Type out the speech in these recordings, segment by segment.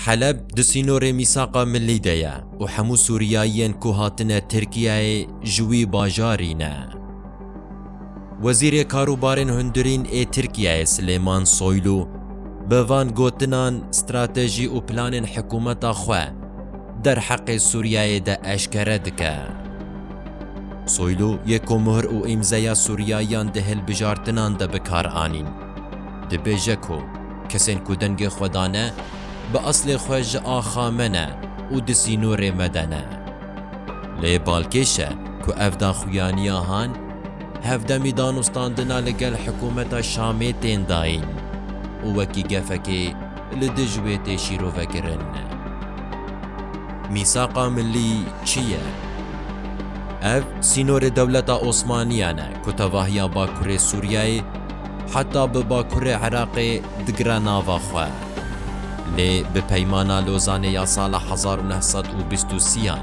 Heleb di sînorê mîsaqa milî de ye û hemû Sûriyayiyên ku hatine Tirkiyeyê ji wî bajarî ne. Wezîrê Karûbarên Hundirîn ê Tirkiyeyê Silêman Soylu bi van gotinan stratejî û planên hikûmeta xwe derheqê Sûriyeyê de eşkere dike. Soylu yê ku muhr û îmzeya Sûriyayiyan di hilbijartinan de bi kar anîn, Dibêje ku kesên ku dengê xwe dane bi eslê xwe ji axa me ne û di sînorê me de ne. Lê balkêş e ku ev daxuyaniya han hevdemî danûstandina li gel hikûmeta Şamê tên dayîn û wekî gefekê li dij wê tê şîrovekirin. Mîsaqa Millî çi ye? Ev sînorê dewleta Osmaniyan e ku tevahiya bakurê Sûriyeyê, Heta bi Bakurê Iraqê digire nava xwe. Lê bi Peymana Lozanê ya sala hezar û neh sed û bîst û sî an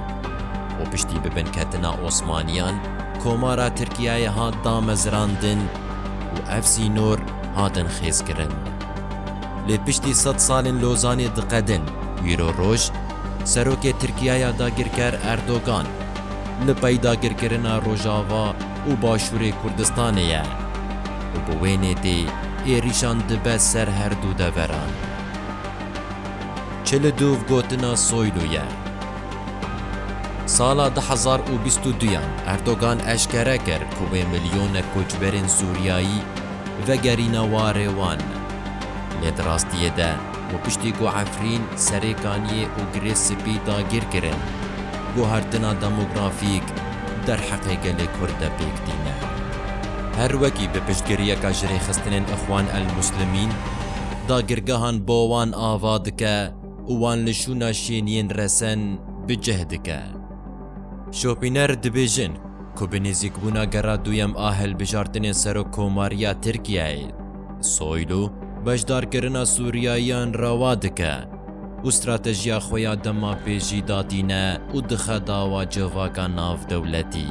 û piştî bi binketina Osmaniyan Komara Tirkiyeyê hat damezirandin û ev sînor hatin xêzkirin. Lê piştî sed salên Lozanê diqedin îro roj Serokê Tirkiyaya dagirker Erdogan li pey dagirkirina Rojava, û Başûrê Kurdistanê ye û bi wê nêtê êrîşan dibe ser her du deveran. Çil û du gotina Soylu ye. Sala du hezar û bîst û duyan Erdogan eşkere kir ku wê milyonek koçberên Sûriyayî vegerîna warê wan. Lê di rastiyê de Û piştî ku Efrîn, Serêkaniyê û Girê Spî dagîr kirin, guhertina demografîk derheqê gelê Kurd de pêk tîne. Her wekî bi piştgiriyeka jirêxistinên Ixwan el-Muslimîn, dagirgehan bo wan ava dike û wan li şûna şêniyên resen bi cih dike. Şopîner dibêjin ku bi nêzîkbûna gera duyem a hilbijartinên Serokkomariya Tirkiyeyê, Soylu, beşdarkirina Sûriyayiyan rewa dike û stratejiya xwe ya dema pêjî datîne û dixe dawa civaka navdewletî.